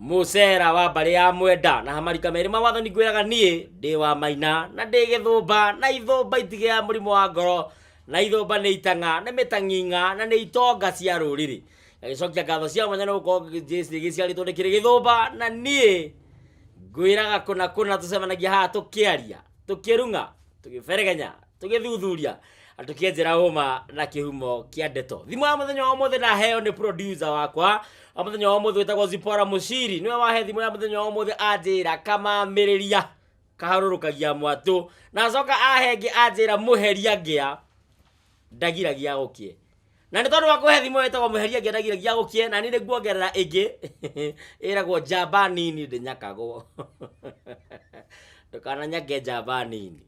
mũcera wa mbarĩ ya mwenda na hamarika merĩ ma wathani ngwĩraga niĩ ndĩ wa maina na ndĩ gĩthũmba na ithũmba itigĩ ya mũrimũ wa ngoro na ithũmba nĩ itang'a nĩ mĩtang'ing'a na nĩ itonga cia rũrĩrĩ gagĩcokia ngatho cia mwanya nĩ gũkorwo gĩciarĩtwo nĩ kĩrĩ gĩthũmba na niĩ ngwĩraga kũna kũna tũcemanagia haha tũkĩaria tũkĩrung'a tũgĩberegenya tũgĩthuthuria na tũkĩenjera ũma na kĩhumo kĩa ndeto thimũ ya mũthenya wa ũmũthĩ ndaheo nĩ producer wakwa wa mũthenya wa ũmũthĩ wĩtagwo zipora mũciri nĩwe wahe thimũ ya mũthenya wa ũmũthĩ anjĩra kamamĩrĩria kaharũrũkagia mwatũ na acoka ahe ngĩ anjĩra mũheria ngĩa ndagiragia gũkĩe na nĩ tondũ wa kũhe thimũ wĩtagwo mũheria ngĩa ndagiragia gũkĩe na nĩ nĩ nguongerera ĩngĩ ĩragwo njamba nini ndĩnyakagwo ndũkananyage njamba nini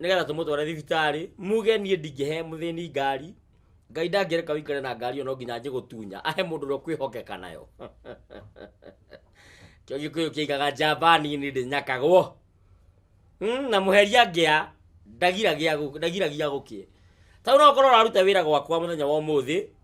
nigetha tumutware thibitari muge nie ndingihe muthini ngari ngai ndangireka wikare na ngari ono nginya njigutunya ahe mundu ro kwihokeka nayo kio gikuyu kiigaga njamba nini ndi nyakagwo Mm, na muheria ngĩa ndagiragia gu- ndagiragia guki tau no korwo raruta wira gwakwa muthenya wa umuthi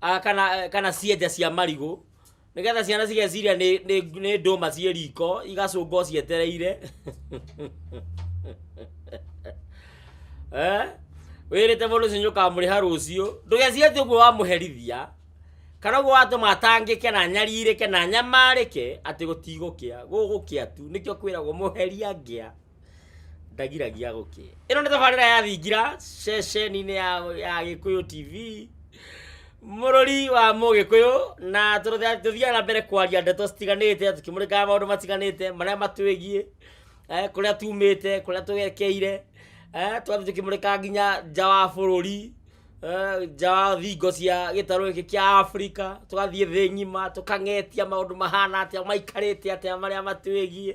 Ah, kana eh, kana cienja cia marigũ nigetha ciana cigeciria nĩ- nĩ nĩ ndũma ciĩ riko igacũngwo cietereire Eh? wĩrĩte mũndũ ũcio nĩũkamũrĩha rũciũ ndũgecirie atĩ ũguo wamũherithia kana ũguo watũma atangĩke na nyarirĩke na nyamarĩke atĩ gũtigũkĩa gũgũkĩa tu nĩkĩo kwĩragwo mũheria ngĩa ndagiragia gũkĩ ĩno nĩ tabarĩra ya thingira ceceni-inĩ ya, ya gĩkũyũ tv mũrũri wa mũgĩkũyũ na tũrũthe- tũthiaga na mbere kwaria ndeto citiganĩte tũkĩmũrĩkaga maũndũ matiganĩte marĩa matwĩgiĩ eh, kũrĩa tumĩte kũrĩa tũgekeire eh, tũgathiĩ tũkĩmũrĩkaga nginya nja wa bũrũri eh, nja wa thingo cia gĩtarũ gĩkĩ kĩa afrika tũgathiĩ thĩ ng'ima tũkang'etia maũndũ mahana atĩa maikarĩte atĩa marĩa matwĩgiĩ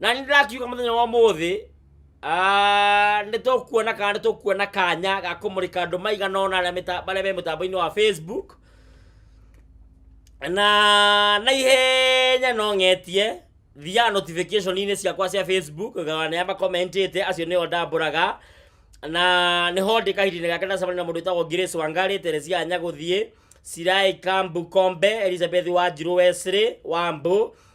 na nĩ ndĩrakiuga mũthenya wa ũmũthĩ ah, nĩ tũkuona kana nĩ tũkuona kanya ga kũmũrĩka andũ maigana ona arĩa mĩta- arĩa me mũtambo-inĩ wa facebook na na ihenya no ng'etie thiaga notification-inĩ ciakwa cia facebook ngaona nĩ amakomentĩte acio nĩo ndambũraga na nĩ ho ndĩ kahinda-inĩ gake ndacemania na mũndũ wĩtagwo Grace Wangari Teresia Nyagũthiĩ Sirai Kambu Kombe Elizabeth Wanjirũ Wesley Wambũ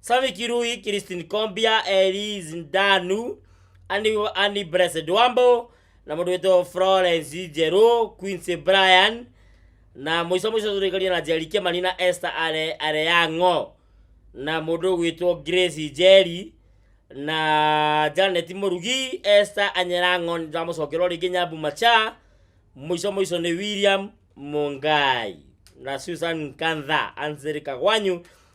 Sami Kirui, Christine Kombia, Eli Zindanu, Annie, Annie Blessed Wambo na mũndũ wĩtwo Florence Njerũ, Quincy Brian na mũico mũico tũrĩkaria na Njeri Kĩmani na Esther Are- Areyang'o na mũndũ gwĩtwo Grace Njeri na Janet Mũrugi, Esther Anyerang'o ndamũcokerwo rĩngĩ Nyambu Macha, mũico mũico nĩ William Mungai na Susan Kantha, Ansel Kagwanyu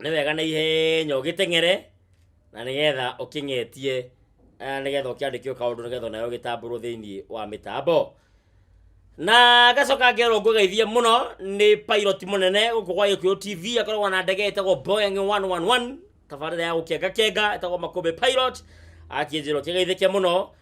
nĩ wega na ihenya ũgĩteng'ere na nĩgetha ũkĩng'etie eh, nĩgetha ũkĩandĩkio kaũndũ nĩgetha nayo gĩtambũrwo thĩinĩ wa mĩtambo na gacoka ngerwo ngũgeithie mũno nĩ pilot mũnene gũkũ gwa gĩkũyũ tv akoragwo na ndege ĩtagwo boeing 111 tabarĩra ya gũkengakenga ĩtagwo makũmbĩ pilot akĩnjĩrwo kĩgeithĩke mũno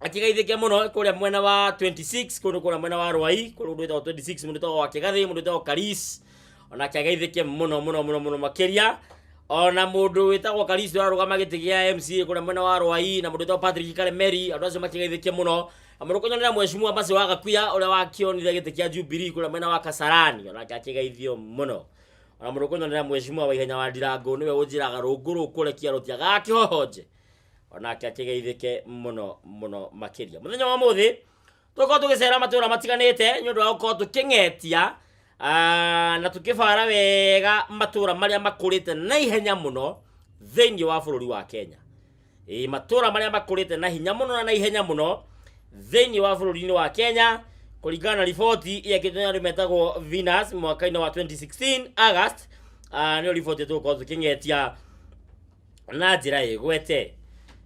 akigaithĩke mũno kũrĩa mwena wa 26 kũndũ kũrĩa mwena wa rwai kũrĩa ũndũ wĩtagwo 26 mũndũ wĩtagwo wakĩgathĩ mũndũ wĩtagwo karis ona akiagaithĩke mũno mũno mũno mũno makĩria ona mũndũ wĩtagwo karis ũrarũgama gĩtĩ gĩa mca kũrĩa mwena wa rwai na mũndũ wĩtagwo patrick karemeri andũ acio makigaithĩke mũno na mũndũ kũnyonera mwecimua macio wa gakuya ũrĩa wakĩonire gĩtĩ kĩa jubilee kũrĩa mwena wa kasarani onake akigaithio mũno ona mũndũ kũnyonera mwecimua wa ihenya wa ndirango nĩwe ũnjĩraga rũngũ rũkũrekia rũtiagaga kĩhohonje o nake akĩgeithĩke mũno mũno makĩria mũthenya wa mũthĩ tũkorwo tũgĩcera matũra matiganĩte nĩ ũndũ wa gũkorwo tũkĩng'etia ah, na tũkĩbara wega matũra marĩa makũrĩte na ihenya mũno thĩinĩ wa bũrũri wa kenya Ĩ, matũra marĩa makũrĩte na hinya mũno na na ihenya mũno thĩinĩ wa bũrũri-inĩ wa kenya kũringana na riboti ĩakĩtwo nĩ andũ metagwo venus mwaka-inĩ wa 2016 august ah, nĩyo riboti tũgũkorwo tũkĩng'etia na njĩra ĩgwete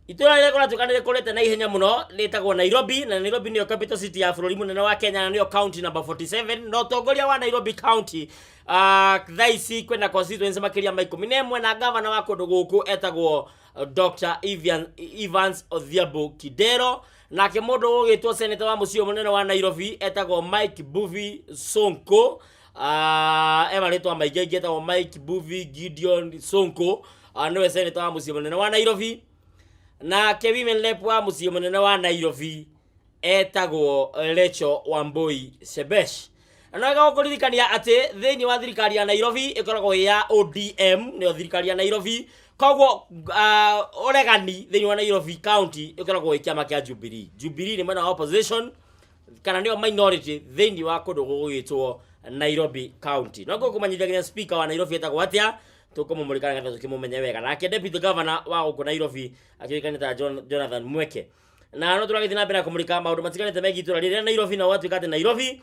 itũra rĩrĩa kũratuĩka nĩ rĩkũrĩte na ihenya mũno rĩtagwo nairobi na nairobi nĩyo capital city ya bũrũri mũnene wa kenya na nĩyo county number 47 na ũtongoria wa nairobi county uh, thaa ici kwĩna constituency makĩria ma ikũmi na ĩmwe na gavana wa kũndũ gũkũ etagwo uh, dr Evian, evans odhiambo kidero nake mũndũ ũgĩtwo seneta wa mũciĩ mũnene wa nairobi etagwo mike buvi sonko Ah, e marĩtwa maingĩ aingĩ etagwo mike buvi gideon sonko Ah, nĩwe seneta wa mũciĩ mũnene wa nairobi nake women rep wa mũciĩ mũnene wa nairobi etagwo recho wamboi shebesh na nagao kũririkania atĩ thĩinĩ wa thirikari ya nairobi ĩkoragwo ĩ ya odm nĩyo thirikari ya nairobi koguo ah, ũregani thĩinĩ wa nairobi county ĩkoragwo ĩ kĩama kĩa jubilee jubilee nĩ mwena wa opposition kana nĩo minority thĩinĩ wa kũndũ gũgwĩtwo nairobi county no ngũkũmanyithia nginya speaker wa nairobi etagwo atĩa tũkũmũmũrĩka nĩgetha tũkĩmũmenye wega nake deputy governor wa gũkũ nairobi akĩũĩkaine ta John- jonathan mweke na no tũragĩthiĩ na mbere na kũmũrĩka maũndũ matiganĩte megiĩ itũra rĩrĩa nairobi na gwatuĩka atĩ nairobi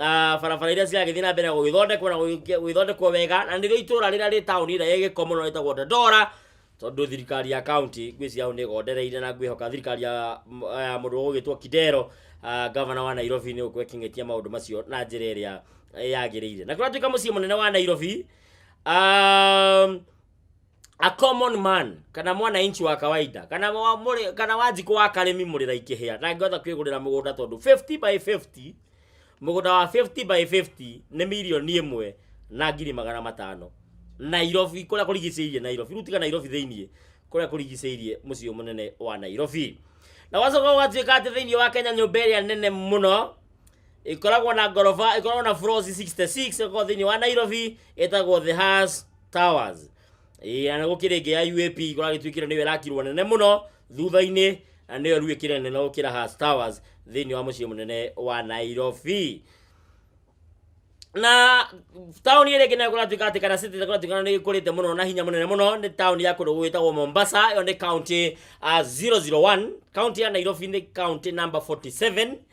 Ah, barabara iria ciragĩthiĩ na mbere gũgĩthondekwo na gũgĩkia- gũgĩthondekwo wega na nĩrĩo itũra rĩrĩa rĩ taũni ĩrĩa ĩgĩko mũno ĩtagwo dandora tondũ thirikari ya kaunti ngwĩciria hau nĩ ĩgondereire na ngwĩhoka thirikari ya m- ya mũndũ ũgũgĩtwo kidero ah, gavana wa nairobi nĩ gũkorwo ĩkĩng'etia maũndũ macio na njĩra ĩrĩa yagĩrĩire na kũratuĩka mũciĩ mũnene wa nairobi um, a common man kana mwananchi wa kawaida kana wa mũrĩ kana wa njiko wa karĩmi mũrĩra ikĩhĩa ndangĩhota kwĩgũrĩra mũgũnda tondũ 50 by 50 mũgũnda wa 50 by 50 nĩ milioni ĩmwe na ngiri magana matano Nairobi kũrĩa kũrigicĩirie Nairobi rĩu tiga Nairobi thĩinĩ kũrĩa kũrigicĩirie mũciĩ mũnene wa Nairobi na wacoka ũgatuĩka atĩ thĩinĩ wa Kenya nyũmba ĩrĩa nene mũno ikoragwo na ngoroba ikoragwo na floors 66 ĩkoragwo thĩinĩ wa nairobi ĩtagwo the has towers Ĩĩ, na nĩgũkĩrĩ ĩngĩ ya uap ikoragwo ĩtuĩkire nĩyo ĩrakirwo nene mũno thutha-inĩ na nĩyo rĩu ĩkĩrĩ nene gũkĩra has towers thĩinĩ wa mũciĩ mũnene wa nairobi na taũni ĩrĩa ĩngĩ nayo kũratuĩka atĩ kana city kũratuĩka nĩ ĩkũrĩte mũno na hinya mũnene mũno nĩ taũni ya kũndũ gwĩtagwo mombasa ĩyo nĩ county uh, 001 county ya nairobi nĩ county number 47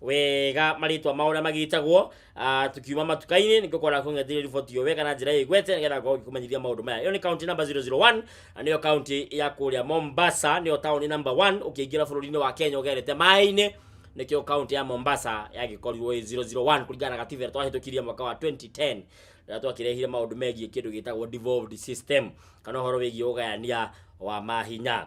wega marĩtwa mao ũrĩa magĩtagwo ah, tukiuma matuka-inĩ nĩ ngũkoragwo ng'etheire riboti ĩyo wega na njĩra ĩgwete nĩgetha ngorwo ngĩkũmenyithia maũndũ maya ĩyo nĩ kaunti namba 001 na nĩyo kaunti ya kũrĩa mombasa nĩyo taũni namba 1 ũkĩingĩra bũrũri-inĩ wa kenya ũgerete maĩ-inĩ nĩkĩo kaunti ya mombasa yagĩkorirwo ĩ 001 kũringana na gatiba ĩrĩa twahĩtũkirie mwaka wa 2010 rĩrĩa twakĩrehire maũndũ megiĩ kĩndũ gĩtagwo devolved system kana ũhoro wĩgiĩ ũgayania wa mahinya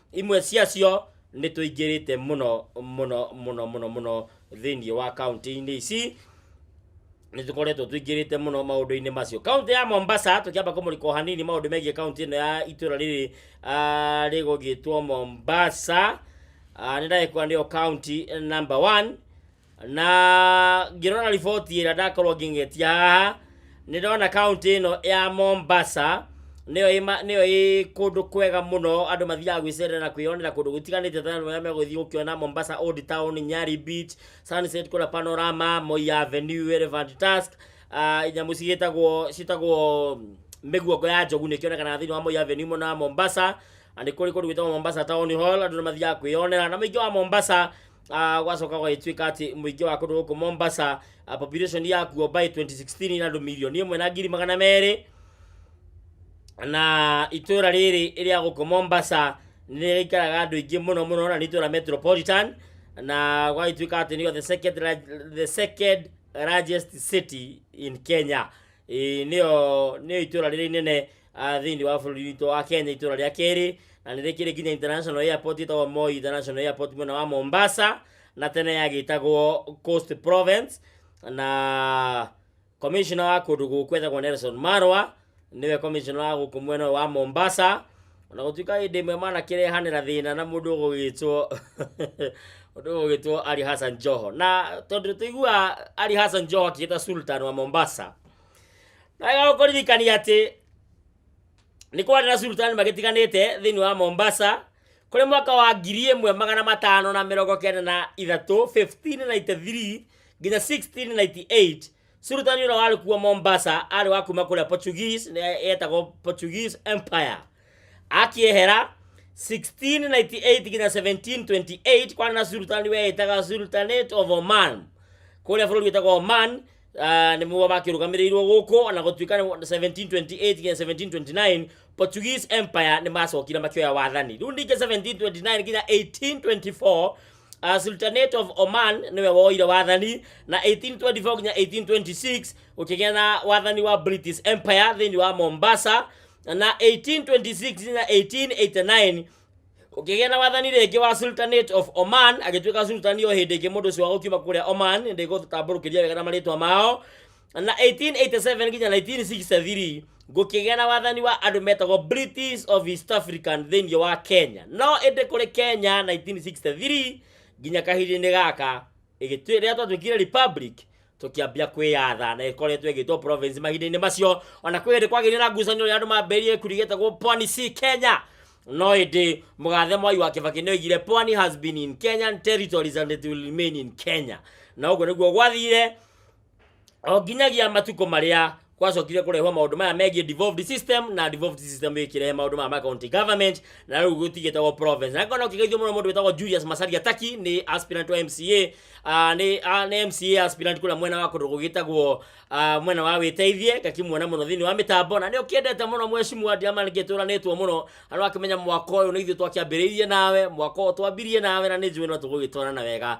imwe ciacio nĩ tũingĩrĩte mũno mũno mũno mũno mũno thĩinĩ wa kaunti-inĩ ici nĩ tũkoretwo tũingĩrĩte mũno maũndũ-inĩ macio kaunti ya mombasa tũkĩamba kũmũrĩka o hanini maũndũ megiĩ kaunti ĩno ya itũra rĩrĩ ah, rĩgũgĩtwo mombasa Ah, nĩ ndagĩkwa nĩyo kaunti number one na ngĩrora riboti ĩrĩa ndakorwo ngĩng'etia haha nĩ ndona kaunti ĩno ya mombasa nĩyo ĩ ma- nĩyo ĩ kũndũ kwega mũno andũ mathiaga gwĩcerera na kwĩyonera kũndũ gũtiganĩte ta arĩa megũthiĩ gũkĩona mombasa old town nyari beach sunset kũrĩa panorama moi avenue elephant tusk ah, nyamũ cigĩtagwo citagwo mĩguongo ya njogu nĩ kĩonekanaga thĩinĩ wa moi avenue mũna wa mombasa na nĩ kũrĩ kũndũ gwĩtagwo mombasa town hall andũ nĩ mathiaga kwĩyonera na mũingĩ wa mombasa Ah, gwacoka gwagĩtuĩka atĩ mũingĩ wa kũndũ gũkũ mombasa ah, population yakuo by 2016 na andũ milioni ĩmwe na ngiri magana merĩ na itũra rĩrĩ rĩa gũkũ mombasa nĩrĩikaraga andũ aingĩ mũno mũno na nĩ itũra metropolitan na gwagĩtuĩka atĩ nĩyo the second, large- the second largest city in kenya Ĩĩ, nĩyo nĩyo itũra rĩrĩa inene ah, thĩinĩ wa bũrũri witũ wa kenya itũra rĩa kerĩ na nĩ rĩkĩrĩ nginya international airport ĩtagwo moi international airport mwena wa mombasa na tene yagĩtagwo coast province na commissioner wa kũndũ gũkũ etagwo nelson marwa nĩwe commissioner wa gũkũ mwena ũyũ wa mombasa ona gũtuĩka hĩndĩ ĩmwe manakĩrehanĩra thĩna na mũndũ ũgũgĩtwo mũndũ ũgũgĩtwo ali hassan joho na tondũ tũiguaga ali hassan joho akĩgĩta sultan wa mombasa naga kũririkania atĩ nĩ kwarĩ na sultani magĩtiganĩte thĩinĩ wa mombasa kũrĩ mwaka wa ngiri ĩmwe magana matano na mĩrongo kenda na ithatũ 1593 nginya 1698 sultani ũrĩa warĩ kuo mombasa arĩ wa kuma kũrĩa portuguese nĩ- yetagwo portuguese empire akiehera 1698 nginya 1728 kwarĩ na sultani weĩtaga sultanate of oman kũrĩa bũrũri wĩtagwo oman uh, nĩmo makĩrũgamĩrĩirwo gũkũ na gũtuĩka nĩ 1728 nginya 1729 portuguese empire nĩ macokire makĩoya wathani rĩu ningĩ 1729 nginya 1824 Uh, sultanate of oman nĩwe woire wathani na 1824 nginya 1826 gũkĩgĩa na wathani wa british empire thĩinĩ wa mombasa na 1826 na 1889 kũkĩgĩa na wathani rĩngĩ wa sultanate of oman agĩtuĩka sultani o hĩndĩ ĩngĩ mũndũ ũcio wa gũkiuma kũrĩa oman ndĩgũtambũrũkĩria wega na marĩtwa mao na 1887 nginya 1963 gũkĩgĩa na wathani wa andũ metagwo british of east african thĩinĩ wa kenya no ĩndĩ kũrĩ kenya 1963 nginya kahinda-inĩ gaka ĩgĩtuĩ rĩrĩa twatuĩkire republic tũkĩambia kwĩyatha na ĩkoretwo ĩgĩtwo province mahinda-inĩ macio ona kwĩ hĩndĩ kwagĩire na ngucanio rĩa andũ mambĩrĩrie kurigĩtagwo pwani si kenya no ĩndĩ mũgathe mwai wa kĩbaki nĩoigire pwani has been in kenyan territories and it will remain in kenya na ũguo nĩguo gwathire o nginyagia matukũ marĩa kwacokire kũrehwo maũndũ maya megiĩ devolved system na devolved system ĩkĩrehe maũndũ maya ma county government na rĩu gũtigĩtagwo province na ngona ũkĩgeithio mũno mũndũ wĩtagwo Julius Macharia Taki nĩ aspirant wa MCA ah, nĩ ah, nĩ MCA aspirant kũrĩa mwena wa kũndũ gũgĩtagwo ah, mwena wa wĩteithie ngakimuona mũno thĩinĩ wa mĩtambo na nĩ ũkĩendete mũno mwecimwa ndiama nĩ ngĩtũranĩtwo mũno andũ akĩmenya mwaka ũyũ nĩ ithuĩ twakĩambĩrĩirie nawe mwaka ũyũ twambirie nawe na nĩ njũĩ no tũgũgĩtwarana wega